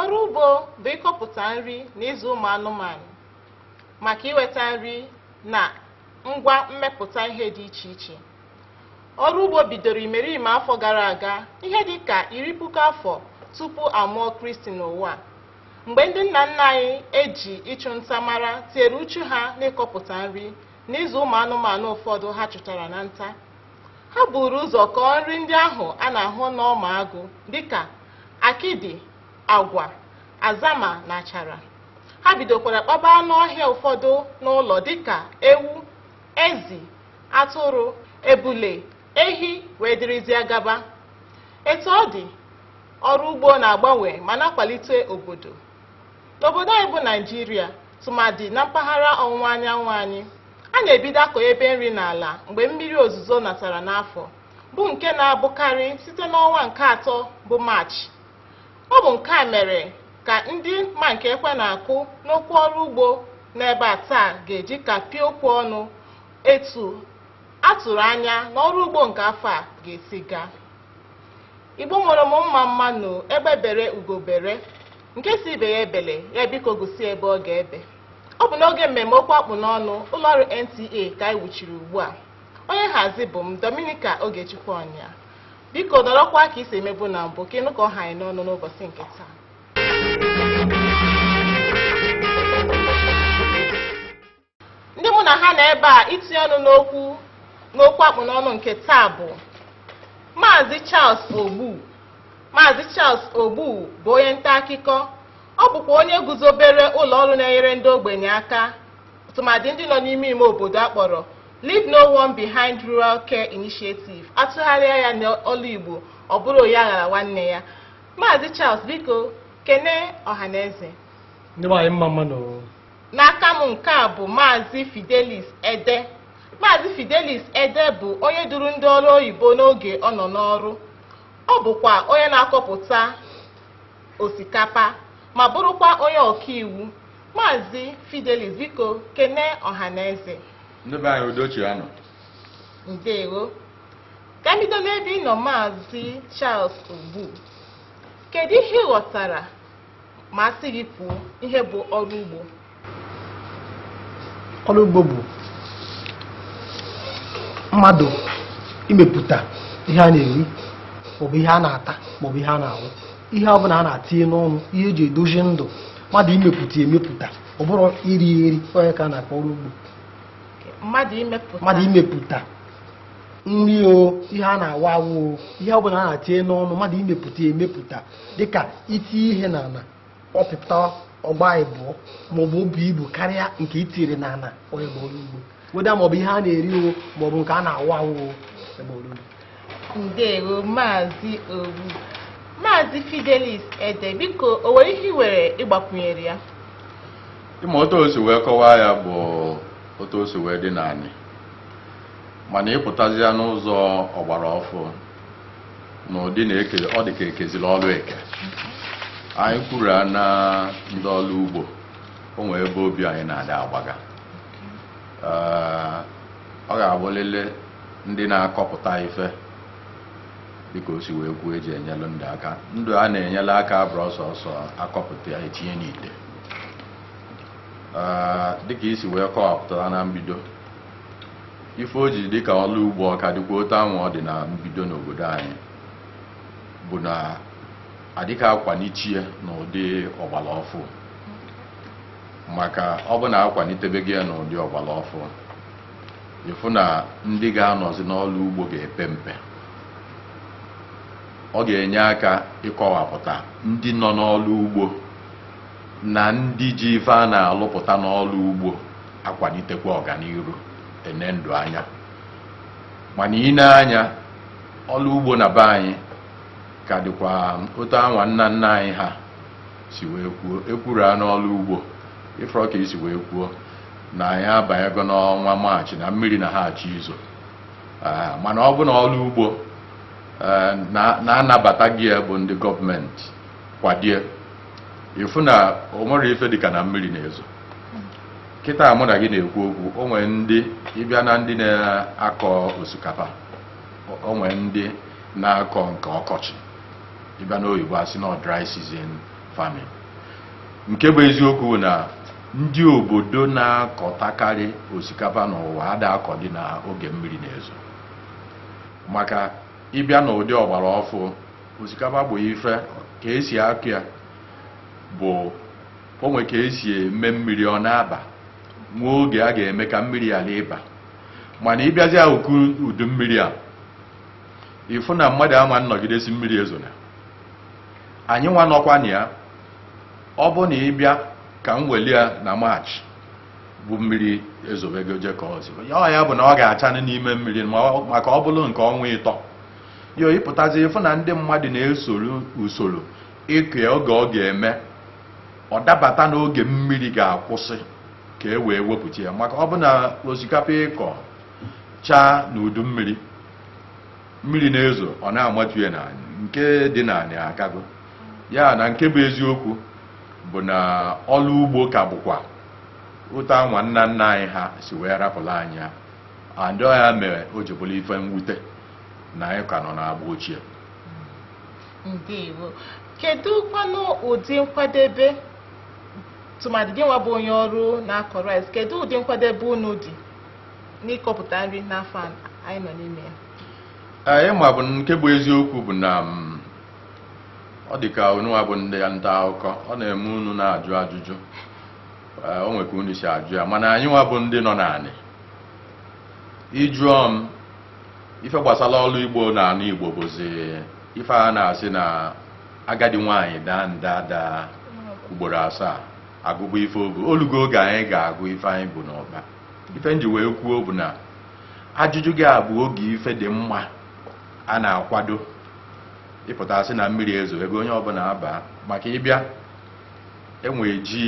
ọrụ ugbo bụ ịkọpụta nri na ịzụ ụmụ anụmanụ maka iweta nri na ngwa mmepụta ihe dị iche iche ọrụ ugbo bidoro imerime afọ gara aga ihe dị ka iri puku afọ tupu a mụọ kristi n'ụwa Mgbe ndị nna nna anyị e ji ịchụ nta mara tinyere uchu ha n'ịkọpụta nri na ịzụ ụmụ anụmanụ ụfọdụ ha chụtara na nta, ha buru ụzọ kọọ nri ndị ahụ a na-ahụ n'ọma agụ dịka akịdị, agwa, azama na achara. Ha bidokwara kpaba anụ ọhịa ụfọdụ n'ụlọ dịka ewu, ezi, atụrụ, ebule, ehi wee dịrịzịa gaba. Etu ọ dị, ọrụ ugbo na-agbanwe ma na-akwalite obodo n'obodo anyị bụ naijiria tụmadị na mpaghara ọwụwa anyanwụ anyị a na-ebido akọ ebe nri n'ala mgbe mmiri ozuzo natara n'afọ bụ nke na-abụkarị site n'ọnwa nke atọ bụ maachị ọ bụ nke a mere ka ndị ma nke ekwe na-akụ n'okwu ọrụ ugbo n'ebe a taa ga-eji kapịa okwu ọnụ etu a tụrụ anya na ọrụ ugbo nke afọ a ga-esi gaa Igbo nwere m mma mma nụ egbe bere ugo bere nke sị ibe ya ebele ya biko gosi ebe ọ ga-ebe ọ bụ n'oge mmemme okwu akpụ n'ọnụ ụlọọrụ NTA ka anyị wuchiri ugbu a onye nhazi bụ m Dominica Ogechukwu Ọnya biko nọrọkwa ka i si emebu na mbụ ka ị nụ ka ọ ha anyị n'ọnụ n'ụbọchị nke taa Ndị mụ na ha nọ ebe a itinye ọnụ n'okwu akpụ n'ọnụ nke taa bụ Maazị Charles Ogbu. Maazị Charles Ogbu bụ onye nta akụkọ. Ọ bụkwa onye guzobere ụlọ ọrụ na-enyere ndị ogbenye aka tụmadị ndị nọ n'ime ime obodo a kpọrọ Leave No One Behind Rural Care Initiative. A tụgharịa ya n'olu Igbo ọ bụrụ onye aghala nwanne ya. Maazị Charles biko kene ọhaneze. Ndị nwe anyị mma mma nụ. N'aka m nke a bụ Maazị Fidelis Ede. Maazị Fidelis Ede bụ onye duru ndị ọrụ oyibo n'oge ọ nọ n'ọrụ. Ọ bụkwa onye na-akọpụta osikapa ma bụrụkwa onye ọkaiwu. Maazị Fidelis biko kene ọhaneze. Ndị be anyị udo chịa nụ. Ndewo. Ka m bido n'ebe ị nọ Maazị Charles Ogbu. Kedu ihe ị ghọtara ma a sị gị kwuo ihe bụ ọrụ ugbo ọrụ ugbo bụ mmadụ imepụta ihe a na-eri maọbụ ihe a na-ata maọbụ ihe a na-awụ ihe ọ bụla a na-atinye n'ọnụ ihe eji edozi ndụ mmadụ imepụta emepụta ọ bụrụ iri eri ọ ya ka a na-akpọ ọrụ ugbo mmadụ imepụta nri o ihe a na-awụ awụ o ihe ọ bụla a na-atinye n'ọnụ mmadụ imepụta emepụta dịka iti ihe n'ala ọ pụta ọ gbaa ịbụọ maọbụ o buo ibu karịa nke i tiri n'ala ọ ya bụ ọrụ ugbo whether maọbụ ihe a na-eri o maọbụ nke a na-awụ awụ o ọ bụ ọrụ ugbo ndewo maazị ogbu maazị fidelis ede biko o nwere ihe ị nwere ịgbakwunyere ya ị ma otu o si wee kọwaa ya bụ otu o si wee dị n'anị mana ị pụtazịa n'ụzọ ọgbara ọfụ n'ụdị na eke ọ dị ka e keziri ọrụ eke anyị kwuru a na ndị ọrụ ugbo o nwere ebe obi anyị na-adị agbaga Ee, ọ ga-abụlịlị ndị na-akọpụta ife dịka o si wee kwuo eji enyelụ ndụ aka ndụ a na-enyela aka abụrọ sọọsọ akọpụta ya etinye n'ite Ee, dịka i si wee kọwapụtara na mbido ife o ji dịka ọlụ ugbo ọ ka dịkwa otu anwa ọ dị na mbido n'obodo anyị bụ na adịka akwanicha ya n'ụdị ọgbara ọfụ maka ọ bụ na akwanitebego ya n'ụdị ọgbara ọfụ ị fụ na ndị ga-anọzi n'ọlụ ugbo ga-epe mpe ọ ga-enye aka ịkọwapụta ndị nọ n'ọlụ ugbo na ndị ji ife a na-alụpụta n'ọrụ ugbo akwanitekwa ọganiru ene ndụ anya mana i nee anya ọrụ ugbo na be anyị ka dịkwa otu anwa nna nna anyị ha si wee kwuo ekwuru a n'ọrụ ugbo ị fụrọ ka i si wee kwuo na anyị abanyego n'ọnwa maachị na mmiri na ha achọ izo Ee, mana ọ bụ na ọrụ ugbo ee, na- na anabatago ya bụ ndị gọọmenti kwado ya ị fụ na o nwerọ ife dịka na mmiri na-ezo kịta mụ na gị na-ekwu okwu o nwere ndị ị bịa na ndị na-akọ osikapa o nwere ndị na-akọ nke ọkọchị ị bịa n'oyibo a sị na dry season farming nke bụ eziokwu na ndị obodo na-akọtakarị osikapa n'ụwa ada akọdị na oge mmiri na-ezo maka ị bịa n'ụdị ọgbara ọfụ osikapa bụ ife ka esi akụ ya bụ o nwe ka esi eme mmiri ọ na-aba nwe oge a ga-eme ka mmiri ghara ịba mana ịbịazi akụkụ udu mmiri a ịfụ na mmadụ ama nnọgide sị mmiri ezona anyị nwa nọkwa na ya ọ bụ na ịbịa ka m weli ya na maachị bụ mmiri ezobego je kọzie ya ọ ya bụ na ọ ga-achanụ n'ime mmiri ma ọ- maka ọ bụrụ nke ọnwa ịtọ yo ịpụtazi ịfụ na ndị mmadụ na-esoro usoro ịkụ ya oge ọ ga-eme ọ dabata n'oge mmiri ga-akwụsị ka e wee wepụta ya maka ọ bụ na osikapa ịkọ chaa n'udu mmiri mmiri na-ezo ọ na-amatu ya n'anị nke dị n'anị akago ya na nke bụ eziokwu bụ na ọrụ ugbo ka bụkwa otu anwa nna nna anyị ha si wee rapụla anyị ya and ọ ya mere o ji bụrụ ife mwute na anyị ka nọ n'agba ochie ndewo kedu kwanụ ụdị nkwadebe tụmadị gị nwa bụ onye ọrụ na-akọ rice kedu ụdị nkwadebe unu dị n'ịkọpụta nri n'afọ a anyị nọ n'ime ya anyị ma bụ nke bụ eziokwu bụ na mm, ọ dị ka unu nwa bụ ndị nta akụkọ ọ na-eme unu na-ajụ ajụjụ Ee, o nwe ka unu si ajụ ya mana anyị nwa bụ ndị nọ n'anị ịjụọ m ife gbasara ọrụ ugbo n'anị igbo bụzi ife a na-asị na agadi nwaanyị daa nda ada ugboro asaa agụba ife o bu olugo oge anyị ga-agụ ife anyị bu n'ụkpa ife nji wee kwuo bụ na ajụjụ gị a bụ oge ife dị mma a na-akwado ịpụta asị na mmiri ezogo onye ọbụla abaa maka ịbịa enwe ji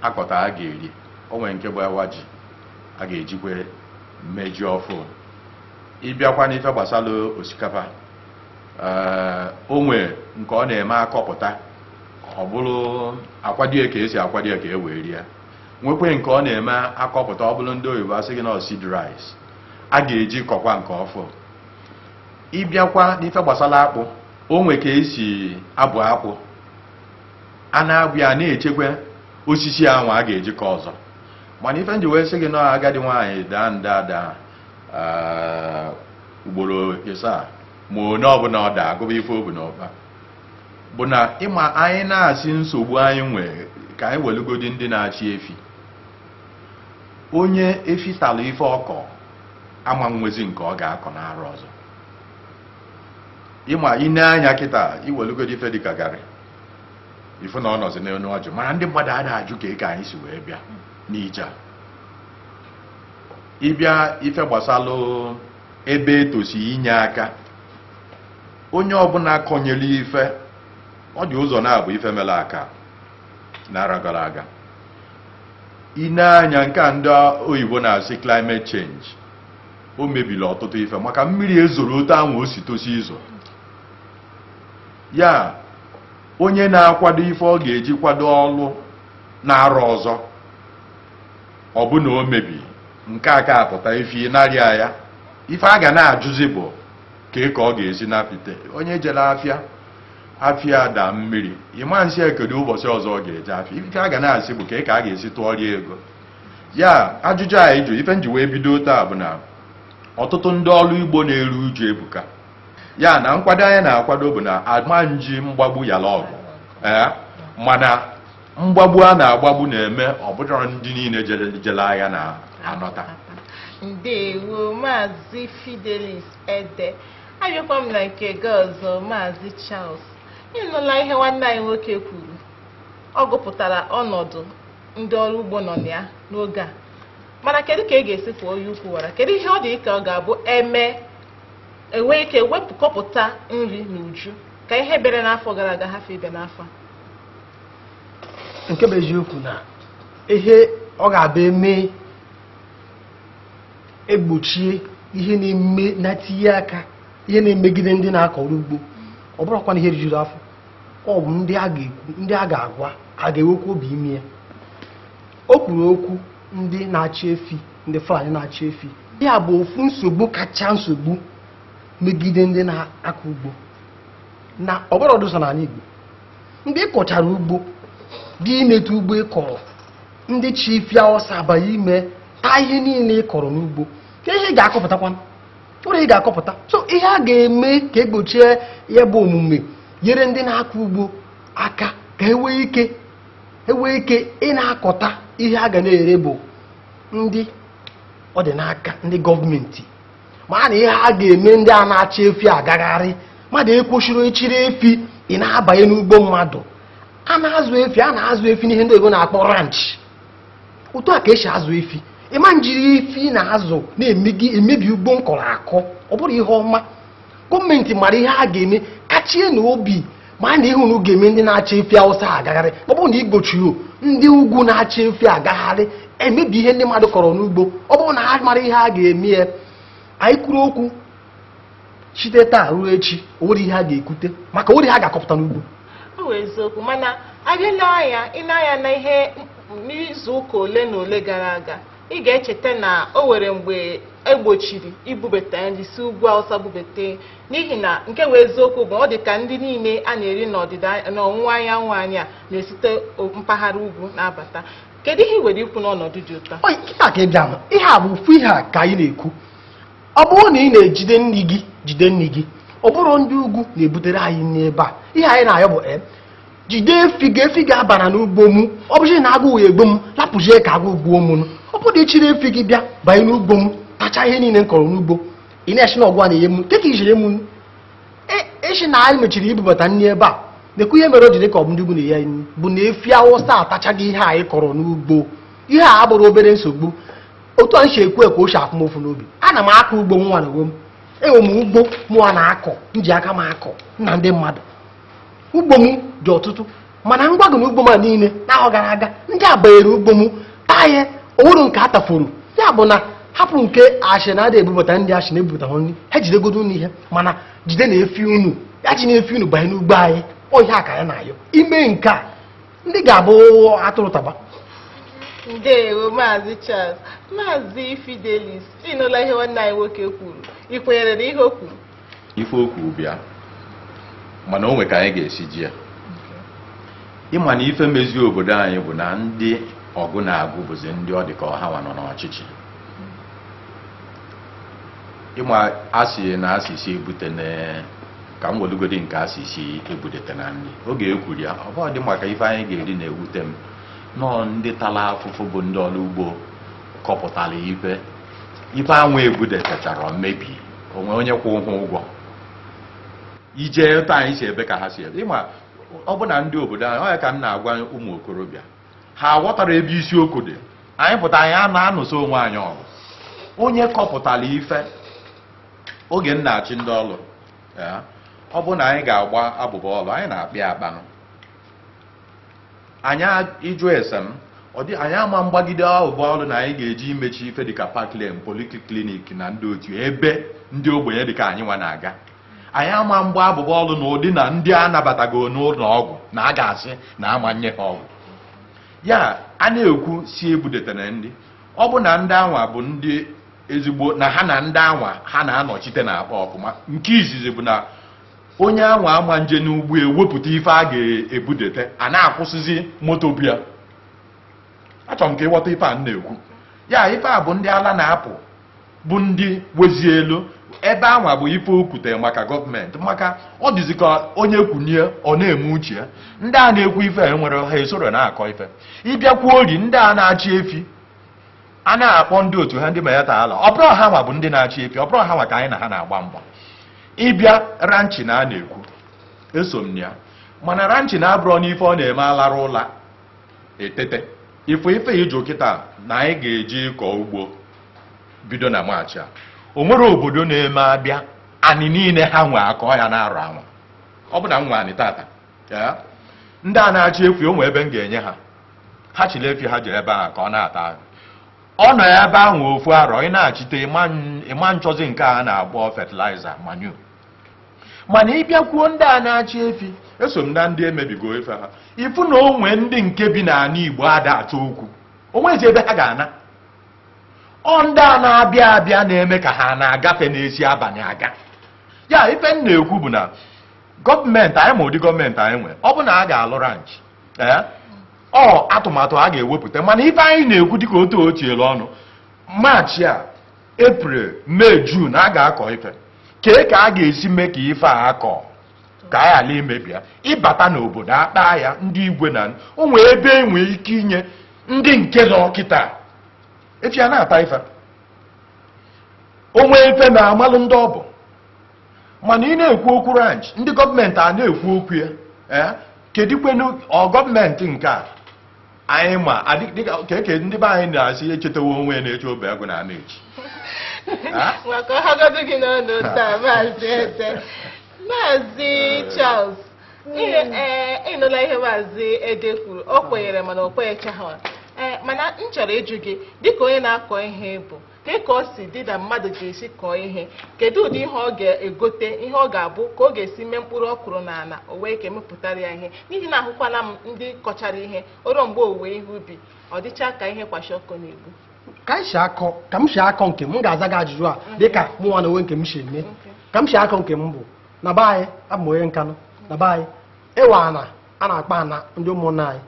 akọta a ga-eri o nwe nke bụ awa ji a ga-ejikwe mee ji ọfụ ịbịakwa n'ife gbasara osikapa ee, o nwee nke ọ na-eme akọpụta ọ bụrụ akwado ya ka esi akwado ya ka e wee rie nwekwe nke ọ na-eme akọpụta ọ bụrụ ndị oyibo asị gị na seed rice a ga-eji kọkwa nke ọfụ ịbịakwa n'ife gbasara akpụ o nwe ka esi abụ akpụ a na-abụ ya na-echekwa osisi anwa a ga-eji kọ ọzọ mana ife nji wee sị gị na agadi nwaanyị daa nda ada ugboro ịsaa ma onye ọbụla ọ daa agụba ife o bu n'ụkpa bụ na ịma anyị na-asị nsogbu anyị nwee ka anyị welugodi ndị na-achị efi onye efi tara ife ọ kọ ama nwezi nke ọ ga-akọ n'arọ ọzọ ịma ine anya kịta iwelugodi ife dịka garị ifu na ọ nọzi n'elu ọjị mana ndị mmadụ ada ajụ kee ka anyị si wee bịa n'ije a ịbịa ife gbasalụ ebe etosi inye aka onye ọbụla kọnyere ife ọ dị ụzọ naabọ ife mere aka n'arọ gara aga ine anya nke a ndị oyibo na-asị climate change o mebiri ọtụtụ ife maka mmiri ezoro otu ahụ o si tosi izo ya onye na-akwado ife ọ ga-eji kwado ọlụ n'arọ ọzọ ọ bụ na o mebi nke aka apụta ife narịa ya ife a ga na-ajụzi bụ kee ka ọ ga-esi napịte onye jere afịa afịa daa mmiri ịma nsị ya kedu ụbọchị ọzọ ọ ga-eje afịa ife a ga na-asị bụ kee ka a ga-esi tụọrọ ya ego ya ajụjụ a ị jụ ife nji wee bido otu a bụ na ọtụtụ ndị ọrụ ugbo na-eru uju ebuka ya na nkwado anyị na-akwado bụ na a ma nji mgbagbu yala ọgụ ee mana mgbagbu a na-agbagbu na-eme ọ bụrọ ndị niile jere agha na-anọta ndewo maazị fidelis ede abịakwa m na nke gị ọzọ maazị charles ị nụla ihe nwanne anyị nwoke kwuru ọ gụpụtara ọnọdụ ndị ọrụ ugbo nọ na ya n'oge a mana kedu ka a ga-esi kuo onye ukwu wara kedu ihe ọ dị ka ọ ga-abụ eme enwee ike wee pụọ kọpụta nri n'uju ka ihe bere n'afọ gara aga hafụ ibe n'afọ a nke bụ eziokwu na ihe ọ ga-abụ eme egbochie ihe na-eme na-etinye aka ihe na-emegide ndị na-akọ ọrụ ugbo ọ bụrụkwa na ihe rijuru afọ ọ bụ ndị a ga-ekwu ndị a ga-agwa a ga-enwekwa obi ime ya o kwuru okwu ndị na-achị efi ndị Fulani na-achị efi ya bụ ofu nsogbu kacha nsogbu megide ndị na-akọ ugbo na ọ bụrọdụ sọ n'ala Igbo ndị kọchara ugbo dị ineta ugbo ị kọrọ ndị chị efi awụsa abanye ime taa ihe niile ị kọrọ n'ugbo kee ihe ị ga-akọpụtakwa o nwerọ ihe ị ga-akọpụta so ihe a ga-eme ka egbochie ya bụ omume nyere ndị na-akọ ugbo aka ka e nwee ike enwee ike ịna-akọta ihe a ga na-ere bụ ndị ọ dị n'aka ndị gọọmenti mara ihe a ga-eme ndị a na-achị efi agagharị mmadụ ekwesịrọ ịchịrị efi na-abanye n'ugbo mmadụ a na-azụ efi a na-azụ efi n'ihe ndị oyibo na-akpọ ranch otu a ka esi azụ efi ịma njiri efi ị na-azụ na-emebi ugbo m kọrọ akọ ọ bụrọ ihe ọma gọọmenti mara ihe a ga-eme kachie na obi ma na ihe unu ga-eme ndị na-achị efi awụsa agagharị ọ bụrụ na igbochiri ndị ugwu na-achị efi agagharị emebi ihe ndị mmadụ kọrọ n'ugbo ọ bụrụ na ha mara ihe a ga-eme ya anyị kwuru okwu site taa ruo echi o nwere ihe a ga-ekwute maka o nwere ihe a ga-akọpụta n'ugbo ọ bụ eziokwu mana a bịa lee anya ịna-anya na ihe n'izu ụka ole na ole gara aga ị ga-echeta na o nwere mgbe egbochiri ibubata nri si ugwu awụsa bubata N'ihi na nke bụ eziokwu bụ ọ dị ka nri niile a na-eri n'ọdịda n'ọwụwa anyanwụ anyị a na-esite o- mpaghara ugwu na-abata kedu ihe i nwere ikwu n'ọnọdụ dị otu a Oyi, ihe a ka ị bịa hụ. ihe a bụ ofu ihe a ka anyị na-ekwu ọ bụrụ na ị na-ejide nri gị jide nri gị ọ bụrụ ndị ugwu na-ebutere anyị nri ebe a ihe anyị na-ayọ bụ jide efi gị efi gị abara n'ugbo m ọ bụzi na agụụ ga-egbu m lapụzie ka agụụ gbuo m nụ. ọ bụrụ na ị chịrị efi gị bịa banye n'ugbo m tacha ihe niile m kọrọ n'ugbo ị na-ashị na ọ gụwa na-enye m kee ka i shi enye m ị shị na anyị mechiri ibubata nri ebe a na-ekwu ihe mere o ji dị ka ọ bụ ndị ugwu na-enye anyị nri bụ na efi awụsa atachago ihe anyị kọrọ n'ugbo ihe a abụrụ obere nsogbu otu a m si ekwu ka o si afụ m ụfụ n'obi ana m akọ ugbo mụwa na onwe m enwe m ugbo mụwa na-akọ m ji aka m akọ m na ndị mmadụ ugbo m dị ọtụtụ mana m gwa gụ na ugbo m niile n'ahọ gara aga ndị a banyere ugbo m taa ya o nwerọ nke a tafọrọ ya bụ na hapụ nke a shị na ada ebubata nri a shị na-ebubata nri ha jidegodo nri ha mana jidenu efi unu ejina efi unu banye n'ugbo anyị ọ ihe a ka anyị na-ayọ i mee nke a nri ga-abụ atụrụ taba ndewo maazị Charles maazị Fidelis ịnụla ihe nwanne anyị nwoke kwuru ị kwenyere na ihe o kwuru ife o kwuru bụ ya mana o nwe ka anyị ga-esi ji ya ịma na ife mezi obodo anyị bụ na ndị ọgụ na-agụ bụzi ndị ọ dị ka ọ hanwa nọ n'ọchịchị ịma a sị na a sị sị ebutena ka m welugodi nke a sị sị ebudetena nri oge e kwuru ya ọ bụghị dị maka ife anyị ga-eri na-ewute m na ọ ndị tara afụfụ bụ ndị ọrụ ugbo kọpụtara ife ife anwa ebudetechara mebie o nwe onye kwụ ha ụgwọ ije etu anyị si ebe ka ha si ebe ịma ọ bụ na ndị obodo anyị ọ ya ka m na-agwa ụmụ okorobịa ha aghọtarọ ebe isiokwu dị anyị pụta anyị a na-anụso onwe anyị ọgụ onye kọpụtara ife oge m na-achị ndị ọlụ ọ bụ na anyị ga-agba abụba ọlụ anyị na-akpa ya akpanụ anyị ịjụ ese m ọdị anyị ama mgbagide abụba ọlụ na anyị ga-eji imechi ife dịka Parklane polyclinic na ndị otu ebe ndị ogbenye dịka anyị nwa na-aga anyị ama mgba abụba ọlụ na ụdị na ndị a nabatago n'ụlọ ọgwụ na a ga-asị na ama nye ha ọgwụ ya a na-ekwu sị ebudetena nri ọ bụ na ndị anwa bụ ndị ezigbo na ha na ndị anwa ha na-anọchite na-akpa ọfụma nke izizi bụ na onye anwa ama nje n'ugbo ewepụta ife a ga-ebudete a na-akwụsịzi moto bịa achọrọ m ka ị ghọta ife a na-ekwu ya ife a bụ ndị ala na-apụ bụ ndị wezi elu ebe anwa bụ ife okwute maka gọọmenti maka ọ dịzi ka onye kwunie ọ na-eme uche ya ndị a na-ekwu ife enwere ha esorọ na-akọ ife ị bịakwuo ori ndị a na-achị efi a na-akpọ ndị otu ha ndị Miyetti Allah ọ bụrụ ha nwa bụ ndị na-achị efi ọ bụrụ ha nwa ka anyị na ha na-agba mgba ị bịa ranching a a na-ekwu eso m ya mana ranching a abụrọ n'ife ọ na-eme alara ụla etete ife ife iji kịta na anyị ga-eji kọọ ugbo bido na maachị a o nwere obodo na-eme abịa anị niile ha nwe akọọ ya n'arọ anwa ọ bụ na nwa anị tata ndị a na-achị efi o nwe ebe m ga-enye ha ha chịlị efi ha jee ebe ahụ ka ọ na-ata ọ nọ ebe ahụ ofu arọ ị na-achịte ị ma nchọzi nke a na-akpọ fertilizer manure mana ị bịakwuo ndị a na-achị efi eso m na ndị emebigo ife ha ị fụ na o nwe ndị nke bi n'ana Igbo ada achọ okwu o nwezi ebe ha ga-ana ọ ndị a na-abịa abịa na-eme ka ha na-agafe na-eji abanị aga ya ife m na-ekwu bụ na gọọmenti anyị ma ụdị gọọmenti anyị nwere ọ bụ na a ga-alụ ranch ee ọ atụmatụ a ga-ewepụta mana ife anyị na-ekwu dịka otu o tinyere ọnụ maachị a eprel mee jun a ga-akọ ife kee ka a ga-esi mee ka ife a akọ ka a ghara imebi ya ị bata n'obodo akpa ya ndị igwe na o nwee ebe e nwee ike inye ndị nke nọ kịta efi ha na-ata ife o nwee ife na a malụ ndị ọ bụ mana ị na-ekwu okwu ranch ndị gọọmenti a na-ekwu okwu ya ee eh? kedikwenu ọ gọọmenti nke a anyị ma dịka keke ndị be anyị na-asị echetawo onwe na-eche obi agụ na-ana echi maka ọ hagodu gị n'ọnụ taa maazị Ede maazị eh. Charles ị nụla eh, ihe maazị Ede kwuru o kwenyere mana o kwenyechaghị mana m chọrọ ịjụ gị dịka onye na-akọ ihe bụ Kee ka ọ si dị na mmadụ ga-esi kọọ ihe? Kedu ụdị ihe ọ ga-egote, ihe ọ ga-abụ, ka ọ ga-esi mee mkpụrụ ọ kụrụ n'ala o wee ike mepụtara ya ihe? N'ihi na ahụkwana m ndị kọchara ihe, o ruo mgbe owuwe ihe ubi, ọ dịcha ka ihe kwashiorkor na-egbu. ka anyị si akọ ka m si akọ nke m m ga-aza gị ajụjụ a dịka mụ nwa n'onwe nke m si eme ka m si akọ nke m bụ na be anyị abụ m onye Nkanụ na be anyị ịwa ana a na-akpa ana ndị ụmụnna anyị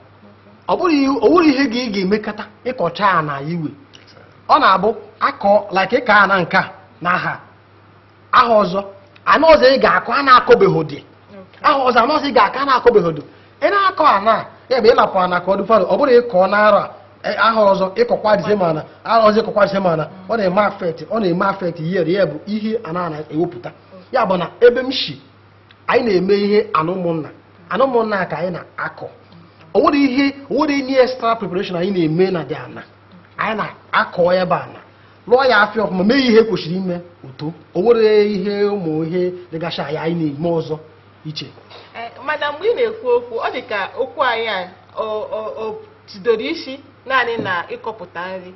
ọ bụrụ ihe gị ị ga-emekọta ị kọcha ana iwe ọ na-abụ akọ like ị kọọ ana nke a n'ahọ a ahọ ọzọ ana ọzọ ị ga-akọ ana akọbeghị dị ahọ ọzọ ana ọzọ ị ga-akọ ana akọbeghị dị ị na-akọ ana ebe ị hapụ ana ka ọ dị fallow ọ bụrụ ị kọọ n'ahọ a e, ahọ ọzọ ị kọkwa the same ana ahọ ọzọ ị kọkwa the same ana ọ na-eme affect ọ na-eme affect yield ya bụ ihe ana na-ewepụta ya bụ na ebe m si anyị na-eme ihe ana ụmụnna ana ụmụnna ka anyị na-akọ o nwerọ ihe o nwerọ any extra preparation anyị na-eme na ụdị ana anyị na-akọ ya bụ ana lụọ ya afịfịa ọfụma mee ihe kwesịrị ime o too o nwerọ ihe ụmụ ihe dịgasha ya anyị na-eme ọzọ iche eh, mana mgbe ị na-ekwu okwu ọ dị ka okwu anyị a o tidoro isi naanị na ịkọpụta nri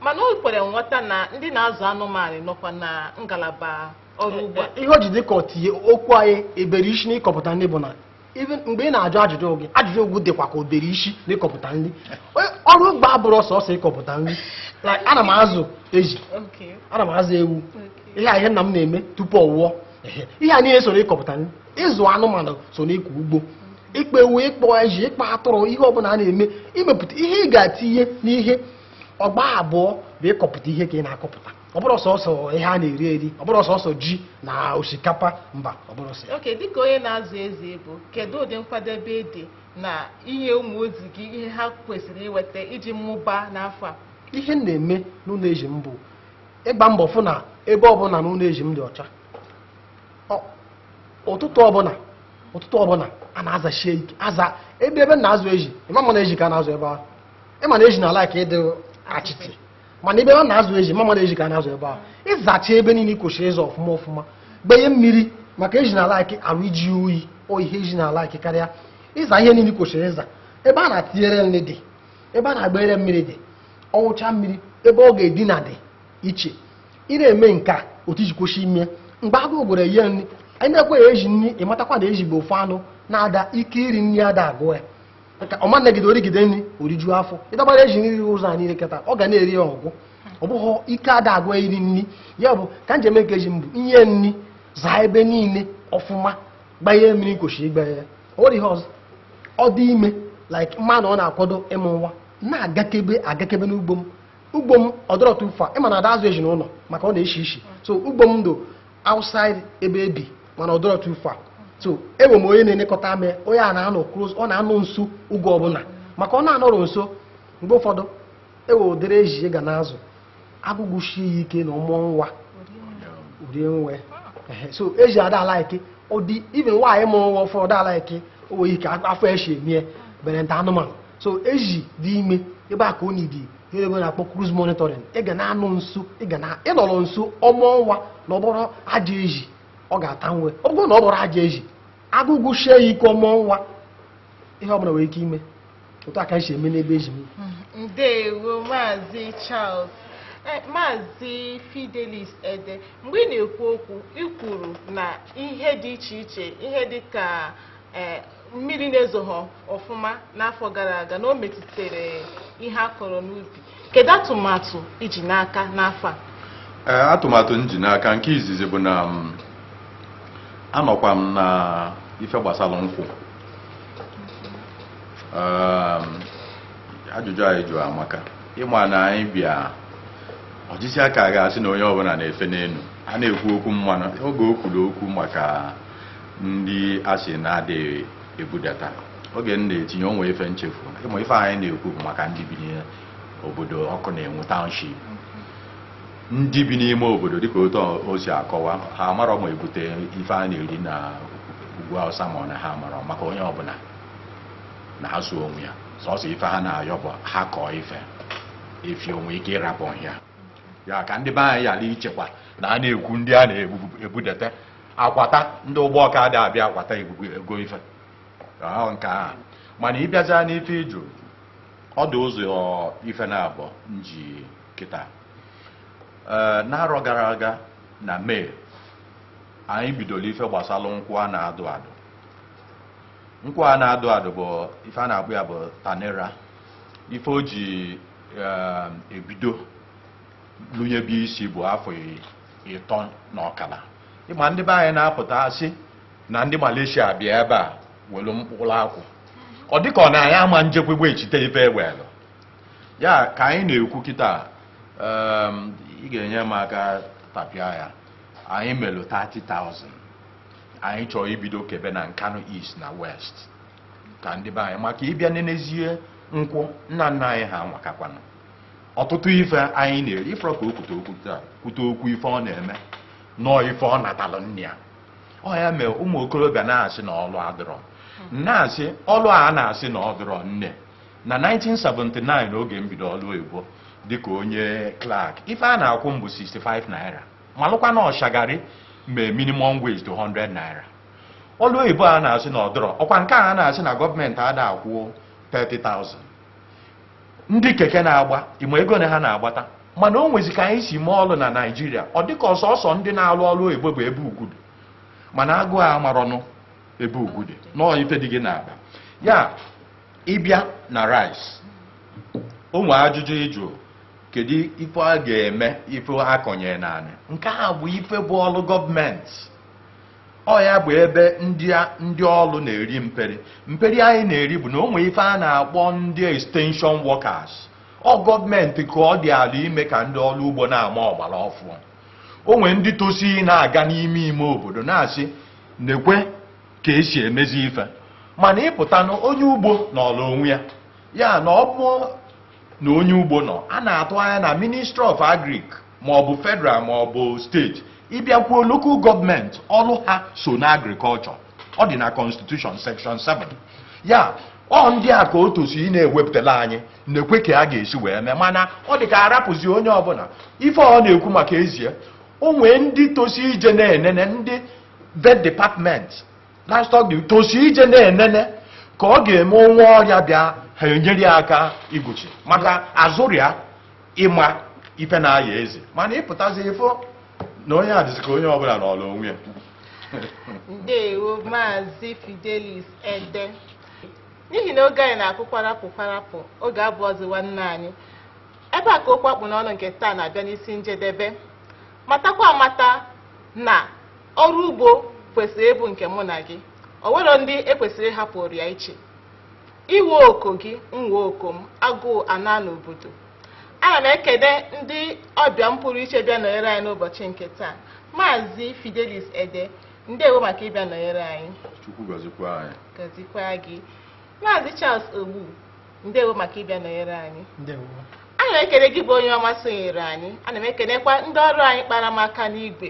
mana o kwere nghọta na ndị na-azụ anụmanụ nọkwa na ngalaba ọrụ ugbo a ihe o ji dị ka ọ tinye okwu anyị bere isi n'ịkọpụta nri bụ na even mgbe ị na-ajụ ajụjụ gị ajụjụ gị dịkwa ka o bere isi n'ịkọpụta nri Onye- ọrụ ugbo abụrọ sọsọ ịkọpụta nri Like, ana m azụ ezi Okay. ana m azụ ewu Okay. ihe a ihe nna m na-eme tupu ọ nwụọ Ehe. ihe a niile so n'ịkọpụta nri ịzụ anụmanụ so n'ịkọ ugbo ịkpa ewu ịkpa ezi ịkpa atụrụ ihe ọbụla a na-eme imepụta ihe ị ga-atinye n'ihe ọ gbaa abụọ bụ ịkọpụta ihe ka ị na-akọpụta ọ bụrọ sọsọ ihe a na-eri eri ọ bụrọ sọsọ ji na osikapa mba ọ bụrọ sọ ya. okay dịka onye na-azụ ezi ị bụ kedu ụdị nkwadebe dị na inye ụmụ ezi gị ihe ha kwesịrị inweta iji mụba n'afọ a ihe m na-eme n'ụlọ ezi m bụ ịgba mbọ fụ na ebe ọbụla n'ụlọ ezi m dị ọcha Ọ- ụtụtụ ọbụla ụtụtụ ọbụla a na-azashi ike aza ebe ebe m na-azụ ezi ị ma-ama na ezi ka a na-azụ ebe ahụ ị ma na ezi na-alike ịdị achịtị mana ebe a na-azụ ezi ị ma-ama na ezi ka a na-azụ ebe ahụ ịzacha ebe niile kwesịrị ịza ọfụma ọfụma gbanye mmiri maka ezi na-alike arụ iji oyi oyi ihe ezi na-alike karịa ịza ihe niile kwesịrị ịza ebe a na-atinyere nri dị ebe a na-agbanyere mmiri dị ọ ṅụcha mmiri ebe ọ ga-edina dị iche ị na-eme nke a otu i ji kwesị ime mgbe agụụ gụrụ ya inye nri anyị na-ekweghị ezi nri ị matakwa na ezi bụ ofu anụ na-ada ike iri nri ada agwụ ya ka ọ ma nọgide o rigide nri o riju afọ ị dọbara ezi nri ụzọ a niile kịta ọ ga na-eri ya ọ gwụ ọ bụghị ike ada agwụ ya iri nri ya bụ ka m ji eme nke ezi m bụ inye nri zaa ebe niile ọfụma gbanye mmiri m kwesị ịgba ya o nwere ihe ọzọ ọ dị ime like m ma na ọ na-akwado ịmụ nwa na-agakebe agakebe n'ugbo m ugbo m ọ dịrọ too far ị ma na ada azụ ezi n'ụlọ maka ọ na-eshi ishi so ugbo m dị outside ebe e bi mana ọ dịrọ too far so enwe m onye na-elekọtara m onye a na-anọ close ọ na-anọ nso oge ọbụla maka ọ na-anọrọ nso mgbe ụfọdụ e nwe ụdịrị ezi ị ga na-azụ agụụ gụsie ya ike na ọ mụọ nwa rie nwa ya so ezi ada alike ọ dị even nwaanyị mụrụ nwa ụfọdụ ada alike o nwere ike afọ eshi emie bere nta anụmanụ so ezi dị ime ebe a ka ọ need ihe bekee na-akpọ close monitoring ị ga na-anọ nso ị ga na ịnọrọ nso ọ mụọ nwa na ọ bụrụ ajọ ezi ọ ga-ata nwa ọ bụrụ na ọ bụrụ ajọ ezi agụụ gụsie ya ike ọ mụọ nwa ihe ọbụla nwere ike ime otu a ka esi eme n'ebe ezi m ndewo maazị charles Eh, maazị fidelis ede mgbe ị na-ekwu okwu ị kwuru na ihe dị iche iche ihe dị ka eh, mmiri na-ezoghị ọfụma n'afọ gara aga na o metụtara ihe a kọrọ n'ubi kedu atụmatụ i ji n'aka n'afọ a atụmatụ m ji n'aka nke izizi bụ na mm, anọkwa m na ife gbasara nkwụ Um, ajụjụ a ị jụrụ amaka ị ma na anyị bịa ojisiaka ga-asị na onye ọbụla na-efe n'elu a na-ekwu okwu mmanụ oge o kwuru okwu maka ndị a sị na adịghị ebudata oge m na-etinye o nwe ife m chefu ị ma ife anyị na-ekwu bụ maka ndị bi n'obodo ọkụ na-enwu township ndị bi n'ime obodo dịka otu o si akọwa ha amarọ ma ebute ife a na-eri na ugwu awụsa ma ọ na ha amarọ maka onye ọbụla na-azụ onwe ya sọsọ ife ha na-ayọ bụ ha kọọ ife efi o nwe ike ịrapụ ya ya ka ndị be anyị ghara ichekwa na a na-ekwu ndị a na-ebudata akwata ndị ugbawka adị abịa akwata ego ife nke ahụ mana ị bịazịa n'ife ị jụ ọ dụ ụzọ ife naabọ m ji kịta ee n'arọ gara aga na may anyị bidoro ife gbasara nkwụ a na-adụ adụ nkwụ a na-adụ adụ bụ ife a na-akpọ ya bụ tenera ife o ji ee, ebido lụnyebe isi bụ afọ ịtọ na ọkara ị ma ndị be anyị na-apụta asị na ndị Malaysia bịa ebe a welu mkpụrụ akwụ ọ dịka ọ na anyị ama njekwegbe echite ife e welụ ya ka anyị na-ekwu kịta um, ị ga-enye m aka tapịa ya anyị melụ 30,000 anyị chọọ ibido kebe na Nkanu East na West ka ndị be anyị maka ị bịa nenezie nkwụ nna nna anyị ha nwe akakwanụ ọtụtụ ife anyị na-eri ị fụrọ ka o kwute okwu taa kwute okwu ife ọ na-eme nọọ ife ọ natalụ nna ya ọ ya mere ụmụ okorobịa na-asị na ọlụ adịrọ m na-asị ọlụ a na-asị na ọ dịrọ nne na 1979 oge m bido ọlụ oyibo dịka onye clerk ife a na-akwụ m bụ 65 naira malụkwa na ọ shagari mee minimum wage to 100 naira ọlụ oyibo a na-asị na ọ dịrọ ọ kwa nke a na-asị na gọọmenti ada akwụ 30,000 ndị keke na-agba ịma ego one ha na-agbata mana o nwezi ka anyị si mee ọlụ na naijiria ọ dịka ọ sọsọ ndị na-alụ ọlụ oyibo bụ ebe ugwu dị mana agụụ amarọnụ ebe ugwu dị nọọ ife dị gị n'akpa ya ịbịa na rice o nwee ajụjụ ịjụ kedu ife a ga-eme ife a kọnyere naanị nke a bụ ife bụ ọlụ gọọmenti ọ ya bụ ebe ndị a- ndị ọlụ na-eri mperi mperi anyị na-eri bụ na o nwee ife a na-akpọ ndị extension workers ọ gọọmenti ka ọ dị ala ime ka ndị ọlụ ugbo na-ama ọgbara ọfụụ o nwee ndị tosi na-aga n'ime ime obodo na-asị nekwe ka esi emezi ife mana ịpụta na onye ugbo nọọla onwe ya ya na ọ bụ na onye ugbo nọ a na-atụ anya na ministry of agric ma ọ bụ federal ma ọ bụ steeti ịbịakwuo local gọọmenti ọrụ ha so na agrikọlchọ ọ dị na constitution section 7 ya ọ ndị a ka o tosi na-ewepụtala anyị nekwe ka a ga-esi wee mee mana ọ dị ka a rapụzi onye ọbụla ife ọ na-ekwu maka ezie o nwee ndị tosi ije na-enene ndị vet department livestock disease tosi ije na-enene ka ọ ga-eme o nwee ọrịa bịa ha enyere ya aka igbochi maka a zụrụ ya ịma ife na-aya ezi mana ịpụtazi ịfụ na ọ na-adịzi ka onye ọbụla nọọla onwe ya ndewo maazị fidelis ede n'ihi na oge anyị na-akụ kwarapụ kwarapụ oge abụọzi nwanne anyị ebe a ka okwu a kpụ n'ọnụ nke taa na-abịa n'isi njedebe matakwa amata na ọrụ ugbo kwesịrị ịbụ nke mụ na gị o nwerọ ndị e kwesịrị ịhapụrụ ya iche iwe oko gị nwe oko m agụụ anaa n'obodo ana m ekele ndị ọbịa m pụrụ iche bịa nọnyere anyị n'ụbọchị nke taa maazị fidelis ede ndewo maka ịbịa nọnyere anyị chukwu gọzikwa anyị gọzikwa gị maazị charles ogbu ndewo maka ịbịa nọnyere anyị ndewo ana m ekele gị bụ onye ọma sonyere anyị ana m ekelekwa ndị ọrụ anyị kpara m aka n'igwe